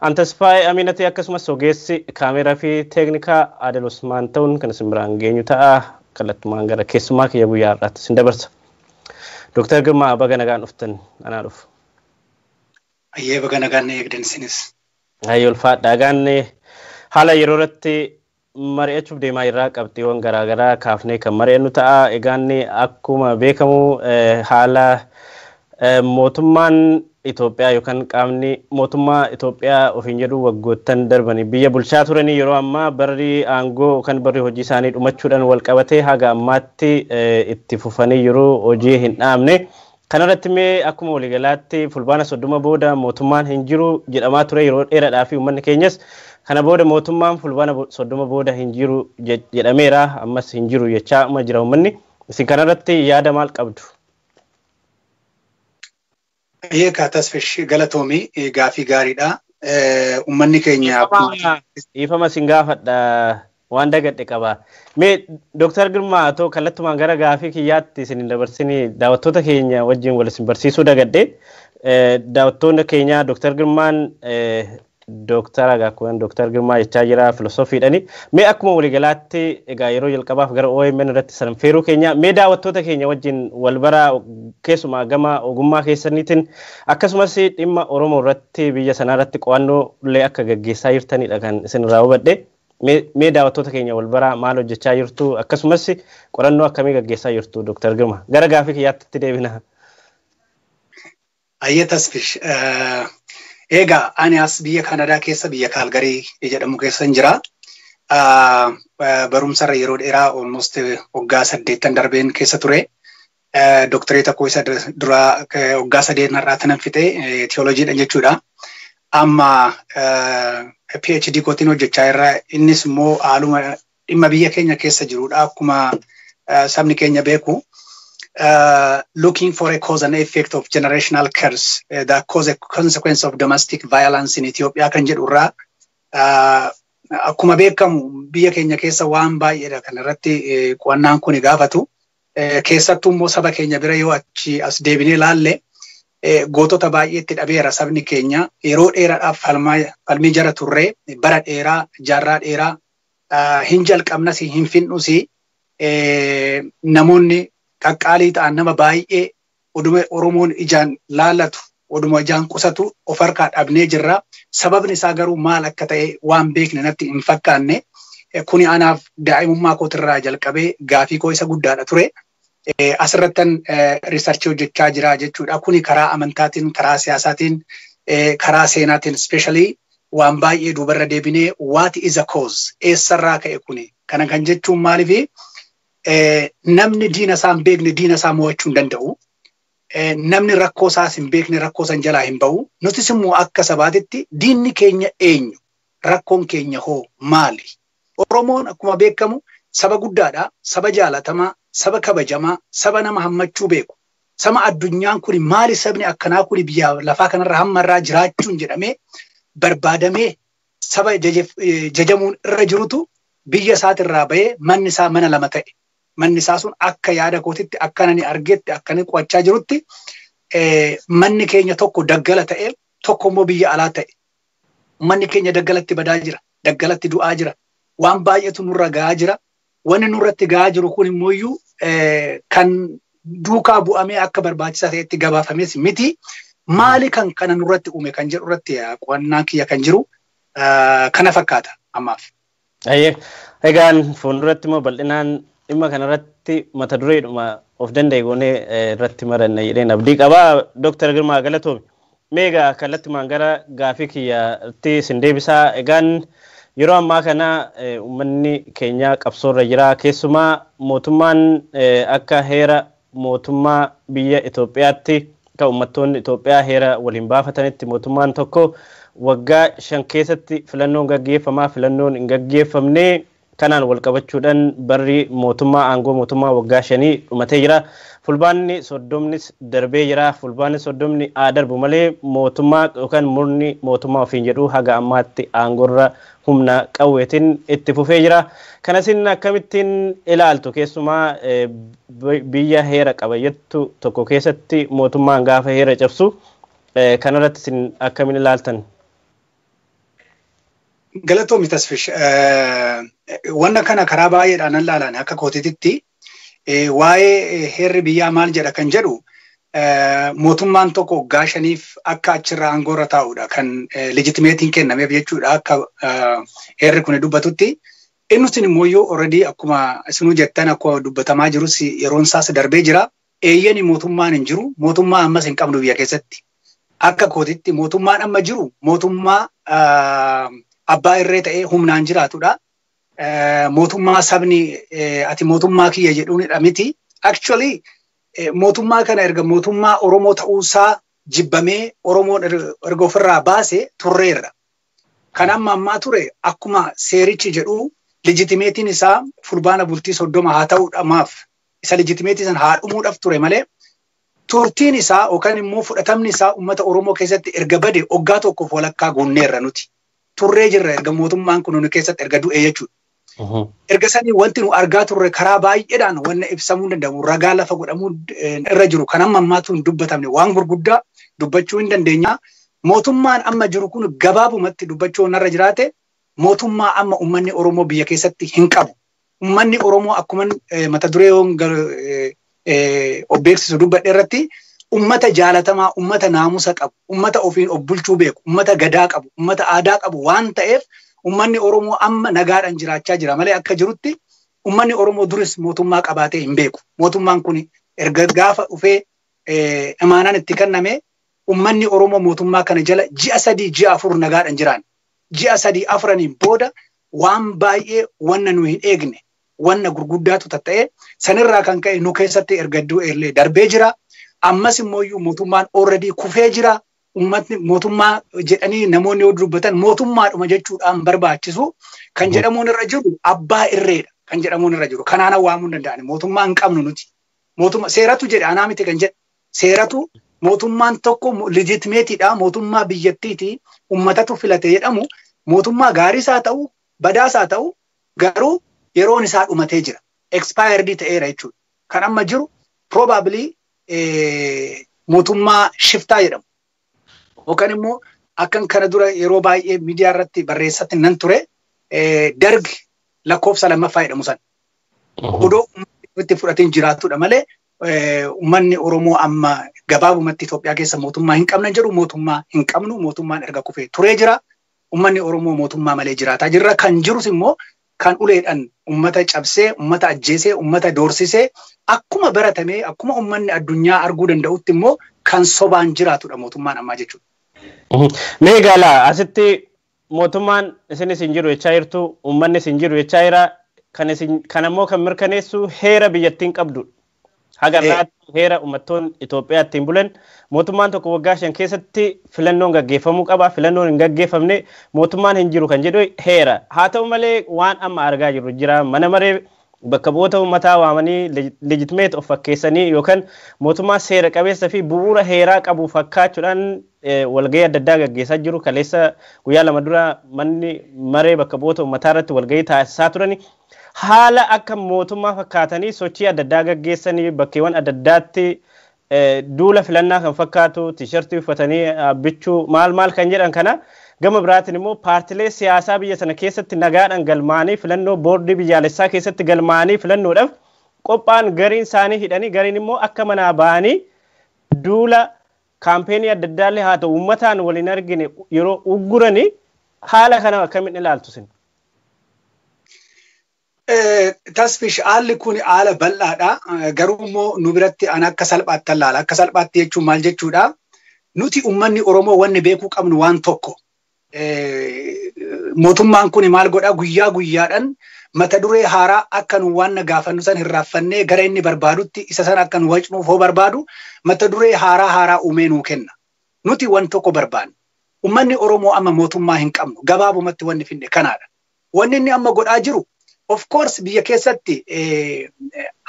An Tasfaayee Amiinati akkasumas ogeessi kaameeraa fi teeknikaa Adel Usmaan ta'uun kan isin biraan geenyu ta'a. Kallattumaan gara keessummaa kiyya guyyaa har'aatti isin dabarsa. Dooktar Girmaa baga nagaan dhuftan anaa dhufu. Ayyee baga nagaan na eegdan isinis. Ayyee ulfaadha. Egaan haala yeroo irratti mari'achuuf deemaa jirra. Qabxiiwwan garaagaraa kaafnee kan mari'annu ta'a. Egaa inni akkuma beekamu haala mootummaan Itoophiyaa yookaan qaamni mootummaa Itoophiyaa ofiin jedhu waggoottan darbanii biyya bulchaa turanii yeroo ammaa barri aangoo yookaan barri hojii isaanii dhumachuudhaan wal qabatee haga ammaatti itti fufanii jiru hojii hin dhaabne. Kanarratti mee akkuma waligalaatti fulbaana 30 booda mootummaan hin jiru jedhamaa ture yeroo dheeradhaa fi uummanni keenyas kana booda mootummaan fulbaana 30 booda hin jiru jedhameera ammas hin jiru jechaa amma jira uummanni isin kanarratti yaada maal qabdu? Baay'ee kaa tasfish galatoomi gaafii gaariidha. Uummanni keenya Dhiifama sin gaafadha Waan dagadhe qaba. Mee Dr. Girmaa atoo kallattumaan gara gaafii kiyyaatti isin hin dabarsinii daawwattoota keenya wajjin wal isin barsiisuu dagadhe. Daawwattoonni keenya Dr. Girmaan Dooktara Gaakkuwwan Dr. Girmaa jechaa jira filosoofiidhani. Mee akkuma waliigalaatti egaa yeroo jalqabaaf gara OMN irratti san feeruu keenya mee daawwattoota keenya wajjin wal bara keessumaa gama ogummaa keessaniitiin akkasumas dhimma Oromoo irratti biyya sanaa irratti qo'annoo illee akka gaggeessaa jirtanidha kan isin irraa hubadhe. Mee mee daawattoota keenya wal baraa maal hojjechaa jirtu akkasumas qorannoo akkamii gaggeessaa jirtu Dr. Girma. Gara gaafii kiyyaatti itti deebina. Ayyee Tasfish. Eegaa ani as biyya Kaanadaa keessa biyya Kaalgarii jedhamu keessa hin jira. Barumsarra yeroo dheeraa almost waggaa saddeettan darbeen keessa ture. Doktoreeta koo isa duraa waggaa sadeen har'aa tanan fixe tiyooloojiidhaan jechuudha. Amma PhD kootiin hojjechaa irra innis immoo haaluma dhimma biyya keenya keessa jirudha akkuma sabni keenya beeku. Looking for a cause and effect of generational curse that cause a consequence of domestic violence in Ethiopia kan jedhu irraa akkuma beekamu biyya keenya keessa waan baay'eedha kan irratti qo'annaan kun gaafatu. Keessattuu immoo saba keenya bira yoo achi as deebinee laalle gootota baay'ee itti dhabeera sabni keenya. Yeroo dheeraadhaaf falmii jara turree bara dheeraa jaarraa dheeraa hin jalqabnas hin fixnus namoonni qaqqaalii ta'an nama baay'ee Oduma Oromoon ijaan laalatu, oduma ijaan qusatu of harkaa dhabnee jirra. Sababni isaa garuu maal akka ta'e waan beekne natti hin fakkaanne. Kuni anaaf daa'imummaa kootirraa jalqabee gaafii koo isa guddaadha ture. Asirrattan riisarchii hojjechaa jira jechuudha. Kuni karaa amantaatiin, karaa siyaasaatiin, karaa seenaatiin specially waan baay'ee duubarra deebinee what is a cause? Eessarraa ka'e kuni? Kana kan jechuun maaliifi Namni diina isaa hin beekne diina isaa mo'achuu hin danda'u. Namni rakkoo isaas hin beekne rakkoo san jalaa hin ba'u. Nutis immoo akka sabaatitti diinni keenya eenyu? Rakkoon keenya hoo maali? Oromoon akkuma beekamu saba guddaadha, saba jaalatamaa, saba kabajamaa, saba nama hammachuu beeku. Sama addunyaan kuni maali sabni akkanaa kuni biyya lafaa kanarra hamma irraa jiraachuun jedhamee barbaadamee saba jajamuun irra jirutu biyya isaati irraa ba'ee manni isaa mana lama ta'e. Manni isaa sun akka yaada kootitti akka nani argetti akka inni qo'achaa jirutti manni keenya tokko daggala ta'e tokko immoo biyya alaa ta'e. Manni keenya daggalatti badaa jira, daggalatti du'aa jira, waan baay'eetu nurra ga'aa jira. Wanni nurratti ga'aa jiru kun immoo iyyuu kan duukaa bu'amee akka barbaachisaa ta'etti gabaafames miti. Maali kan kana nurratti uume kan jedhu irratti qo'annaan kiyya kan jiru kana fakkaata ammaaf. Ayyee egaan fuulduratti immoo bal'inaan dhimma kanarratti mata dureedhuma of danda'e goonee irratti maranna jedheen abdii qaba. Dooktar Girmaa Galatoomi. Mee egaa kallattumaan gara gaafii kiyyatti isin deebisa. Egaan yeroo ammaa kana uummanni keenyaa qabsoorra jira. Keessumaa mootummaan akka heera mootummaa biyya Itoophiyaatti akka uummattoonni Itoophiyaa heera waliin baafatanitti mootummaan tokko waggaa shan keessatti filannoon gaggeeffama. Filannoon hin gaggeeffamne Kanaan walqabachuudhan barri mootummaa aangoo mootummaa waggaa shanii dhumatee jira. Fulbaanni soddomnis darbee jira. Fulbaanni soddomni haa darbu malee mootummaa yookaan murni mootummaa ofiin jedhu haga ammaatti aangorra humna qawweetiin itti fufee jira. Kana isin akkamittiin ilaaltu? Keessumaa biyya heera qaba jettu tokko keessatti mootummaan gaafa heera cabsu kanarratti isin akkamiin ilaaltan? Galatoomi Tasfish. Wanna kana karaa baay'eedhaan nan laalaan akka kootititti waa'ee heerri biyyaa maal jedha kan jedhu mootummaan tokko waggaa shaniif akka achirra aangoo irra taa'udha kan legitimeetiin kennameef jechuudha akka heerri kun dubbatutti. Innus immoo iyyuu already akkuma isinuu jettan akkuma dubbatamaa jirus yeroon isaas darbee jira. Eeyyeni mootummaan hin jiru. Mootummaa ammas hin qabnu biyya keessatti. Akka kootitti mootummaan amma jiru mootummaa abbaa irree ta'ee humnaan jiraatudha. Mootummaa sabni ati mootummaa kiyya jedhuunidha miti. Actually mootummaa kana erga mootummaa Oromoo ta'uusaa jibbamee Oromoon erga ofirraa baase turreerra. Kan amma ammaa ture akkuma seerichi jedhu legitimeetiin isaa fulbaana bultii soddoma haa ta'udha maaf isa legitimeetii san haa dhumuudhaaf ture malee turtiin isaa yookaan immoo fudhatamni isaa uummata Oromoo keessatti erga bade oggaa tokkoof walakkaa guunneerra nuti. Turree jirra erga mootummaan kun nu keessatti erga du'ee jechuudha. Erga sanii wanti nu argaa turre karaa baay'eedhaan wanna ibsamuu hin danda'amu ragaa lafa godhamuu irra jiru kan amma ammaatu hin dubbatamne waan gurguddaa dubbachuu hin dandeenya. Mootummaan amma jiru kun gabaabumatti dubbachuu irra jiraate mootummaa amma uummanni Oromoo biyya keessatti hin qabu. Uummanni Oromoo akkuma mata duree hoon of beeksisu dubbadhe irratti uummata jaalatamaa, uummata naamusa qabu, uummata ofiin of bulchuu beeku, uummata gadaa qabu, uummata aadaa qabu waan ta'eef uummanni Oromoo amma nagaadhaan jiraachaa jira malee akka jirutti uummanni Oromoo duris mootummaa qabaatee hin beeku. Mootummaan kun erga gaafa dhufee imaanaan itti kenname uummanni Oromoo mootummaa kana jala ji'a sadii ji'a afur nagaadhaan jiraan. ji'a sadii afraniin booda waan baay'ee wanna nu hin eegne wanna gurguddaatu tatta'ee sanirraa kan ka'e nu keessatti erga iddoo eellee darbee jira. Ammas immoo iyyuu mootummaan already kufee jira. Uummatni mootummaa jedhanii namoonni yoo dubbatan mootummaadhuma jechuudhaan barbaachisu kan jedhamuun irra jiru abbaa irreedha kan jedhamuun irra jiru. Kanaana waamuu hin danda'ani mootummaa hin qabnu nuti. Mootummaa seeratu jedhe anaa miti kan jedhe seeratu mootummaan tokko legitimate-dha, mootummaa biyyattiiti, ummatatu filate jedhamu mootummaa gaariis haa ta'u, badaas haa ta'u garuu yeroon isaa dhumatee jira. Expired ta'eera jechuudha. Kan amma jiru probably eh, mootummaa shiftaa jedhamu. Yookaan immoo akkan kana dura yeroo baay'ee miidiyaa irratti barreessatti nan ture eh, darg lakkoofsa lammaffaa jedhamu sana. Odoo uummanni itti fudhateen jiraatudha malee Uummanni Oromoo amma gabaabumatti Itoophiyaa keessa mootummaa hin qabna jedhu mootummaa hin qabnu mootummaan erga kufee turee jira. Uummanni Oromoo mootummaa malee jiraataa jirra. Kan jirus immoo kan uleedhaan uummata cabsee, uummata ajjeesee, uummata doorsisee akkuma baratamee akkuma uummanni addunyaa arguu danda'utti immoo kan sobaan jiraatudha mootummaan ammaa jechuudha. Mee egaa asitti Mootummaan isinis hin jiru jechaa jirtu, uummannis hin jiru jechaa jira. Kan isin kan ammoo kan mirkaneessu heera biyyattiin qabdudha. Haga Ee. irraatti heera uummattoonni Itoophiyaa ittiin bulan mootummaan tokko waggaa shan keessatti filannoon gaggeeffamuu qaba. Filannoon hin gaggeeffamne mootummaan hin jiru kan jedhu heera. Haa ta'u malee waan amma argaa jirru jira. Mana maree bakka bu'oota uummataa waamanii legitimate of fakkeessanii yookaan mootummaa seera qabeessa fi bu'uura heeraa qabu fakkaachuudhaan walgahii adda addaa gaggeessaa jiru. Kaleessa guyyaa lama dura manni maree bakka bu'oota uummataa irratti walgahii taasisaa turani. Haala akka mootummaa fakkaatanii sochii adda addaa gaggeessanii bakkeewwan adda addaatti duula filannaa kan fakkaatu tiishartii uffatanii bichuu maal maal kan jedhan kana gama biraatiin immoo paartilee siyaasaa biyya sana keessatti nagaadhaan galmaa'anii filannoo boordii biyyaalessaa keessatti galmaa'anii filannoodhaaf qophaa'an gariin isaanii hidhanii gariin immoo akka manaa ba'anii duula kaampeenii adda addaallee haa ta'u uummataan waliin argine yeroo ugguranii haala kana akkamiin ilaaltu sin? Tasfish haalli kun haala bal'aadha. Garuu immoo nu biratti an akka salphaatti ilaala. Akka salphaatti jechuun maal jechuudha? Nuti uummanni Oromoo wanni beekuu qabnu waan tokko. Mootummaan kun maal godha? Guyyaa guyyaadhaan mata duree haaraa akka nu waan gaafannu san hin raaffannee gara inni barbaadutti isa san akka nu wacnuuf hoo barbaadu mata duree haaraa haaraa uumee nuu kenna. Nuti waan tokko barbaanna. Uummanni Oromoo amma mootummaa hin qabnu. Gabaabumatti wanni finne kanaadha. Wanni inni amma godhaa jiru of course biyya keessatti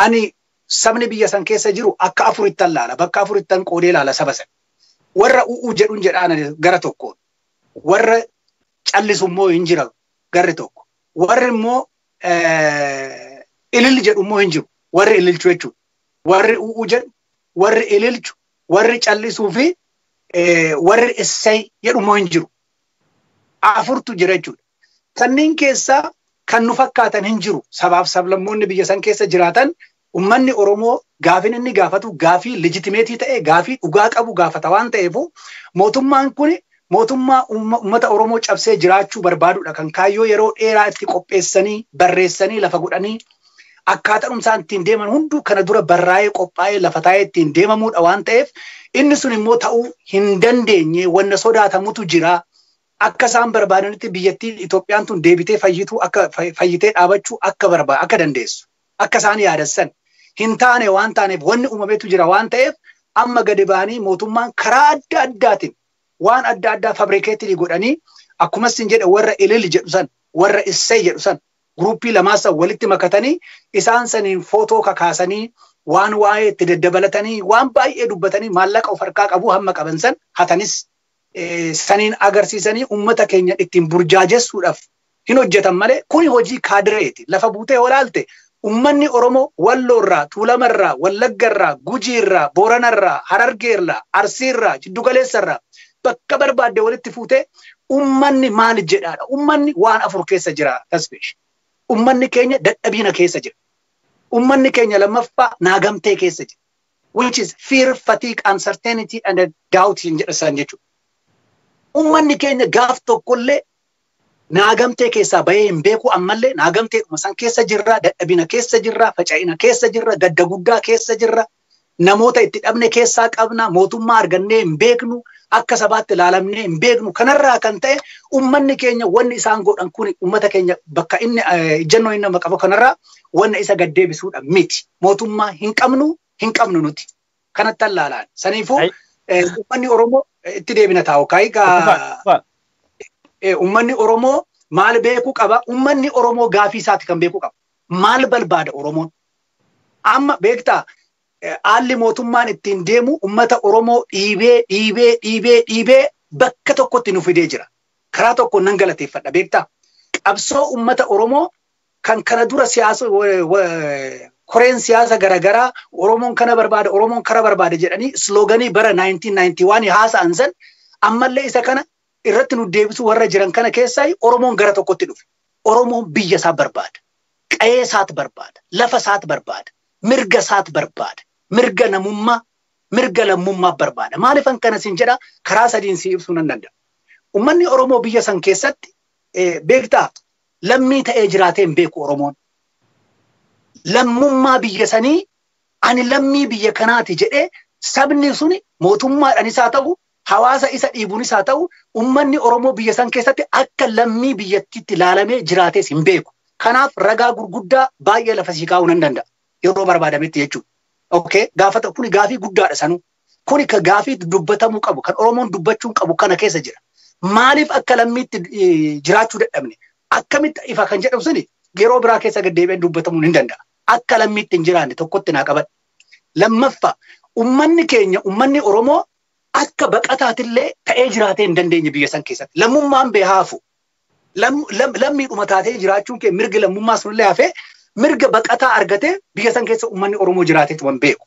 ani sabni biyya san keessa jiru akka afurittan laala bakka afurittan qoodee laala saba san. Warra u'uu jedhun jedhaan ani gara tokkoon. Warra callisu immoo hin jira garri tokko. Warri immoo ilil jedhu immoo hin jiru. Warri ililchu jechuudha. Warri u'uu jedhu, warri ililchu, warri callisuu fi warri essay jedhu immoo hin jiru. Afurtu jira jechuudha. Kanneen keessaa kan nu fakkaatan hin jiru. Sabaaf sablammoonni biyya san keessa jiraatan ummanni Oromoo gaafin inni gaafatu gaafii legitimeetii ta'e gaafii dhugaa qabu gaafata waan ta'eefu mootummaan kun mootummaa ummata Oromoo cabsee jiraachuu barbaadudha kan kaayyoo yeroo dheeraa itti qopheessanii barreessanii lafa godhanii akkaataan isaan ittiin deeman hunduu kana dura barraa'ee qophaa'ee lafa taa'ee ittiin deemamuudha waan ta'eef inni sun immoo ta'uu hin dandeenye wanna sodaatamutu jira akka isaan barbaadanitti biyyattiin Itoophiyaan tun deebitee fayyituu akka fayyitee dhaabachuu akka barbaadu akka dandeessu akka isaan yaadan san hin taane waan taaneef wanni uumametu jira waan ta'eef amma gadi ba'anii mootummaan karaa adda addaatiin waan adda addaa fabrikeetilii godhanii akkuma sin jedhe warra ilil jedhu san warra issee jedhu san guruuppii lamaa san walitti makatanii isaan saniin footoo kakaasanii waan waa'ee itti daddabalatanii waan baay'ee dubbatanii maallaqa of harkaa qabu hamma qaban san hatanis saniin agarsiisanii ummata keenya ittiin burjaajessuudhaaf hin hojjetan malee kuni hojii kaadireeti. Lafa buutee yoo ilaalte ummanni Oromoo Walloorraa, Tuulamarraa, Wallaggarraa, Gujiirraa, Booranarraa, Harargeerraa, Arsiirraa, Jiddugaleessarraa bakka barbaadde walitti fuutee ummanni maal jedhaadha? Ummanni waan afur keessa jira Tasfish. Ummanni keenya dadhabiina keessa jira. Ummanni keenya lammaffaa naagamtee keessa jira. which is fear, fatigue, uncertainty and a doubt hin jedha isaan jechuudha. Ummanni keenya gaaf tokkollee naagamtee keessaa bahee hin beeku ammallee naagamteedhuma san keessa jirra, dadhabina keessa jirra, faca'ina keessa jirra, gadda guddaa keessa jirra, namoota itti dhabne keessaa qabna, mootummaa argannee hin beeknu, akka sabaatti ilaalamnee hin beeknu. Kanarraa kan ta'e ummanni keenya wanni isaan godhan kun ummata keenya bakka inni eh, ejjennoo inni nama qabu kanarraa wanna isa gad deebisuudha miti. mootummaa hin qabnu hin qabnu nuti. Kanatti allaalaan. Saniifuu Ai. eh, uummanni Oromoo eh, itti deebina taa'u. Kaayii Fufaa, gaa fufaa. eh, uummanni Oromoo maal beekuu qaba? Uummanni Oromoo gaafii isaati kan beekuu qaba. Maal barbaada Oromoon? Amma beektaa eh, haalli mootummaan ittiin deemu uummata Oromoo dhiibee dhiibee dhiibee dhiibee bakka tokkotti nu fidee jira. Karaa tokkoon nan galateeffadha beektaa? Qabsoo uummata Oromoo kan kana dura siyaasa koreen siyaasa garaagaraa Oromoon kana barbaada Oromoon kana barbaada jedhanii slooganii bara 1991 haasa'an san ammallee isa kana irratti nu deebisu warra jiran kana keessaa Oromoon gara tokkotti dhufe. Oromoon biyya isaa barbaada. Qa'ee isaat barbaada. Lafa isaat barbaada. Mirga isaat barbaada. Mirga namummaa, mirga lammummaa barbaada. Maaliifan kana sin jedha karaa sadiin si ibsuu nan danda'a. Uummanni Oromoo biyya san keessatti beektaa lammii ta'ee jiraatee hin beeku Oromoon. Lammummaa biyya sanii ani lammii biyya kanaati jedhee sabni suni mootummaadhanis haa ta'u, hawaasa isa dhiibuunis haa ta'u, ummanni Oromoo biyya san keessatti akka lammii biyyattiitti laalamee jiraatees hin beeku. Kanaaf ragaa gurguddaa baay'ee lafa sii kaa'uu nan danda'a. Yeroo barbaadametti jechuudha. Okay? Gaafata kuni gaafii guddaadha sanuu. Kuni ka gaafii dubbatamuu qabu, kan Oromoon dubbachuun qabu kana keessa jira. Maaliif akka lammiitti eh, jiraachuu dadhabne? Akkamitti ifa kan jedhamu suni yeroo biraa keessa gad deebi'een dubbatamuun hin danda'a. Akka lammiitti hin jiraanne tokkotti naa qabadha. Lammaffaa, ummanni keenya, ummanni Oromoo akka baqataatillee ta'ee jiraatee hin dandeenye biyya san keessatti. Lammummaan bee haafu. Lam- lam- Lammiidhuma taatee jiraachuun kee mirgi lammummaa sunillee hafee mirga baqataa argatee biyya san keessa ummanni Oromoo jiraateetuma hin beeku.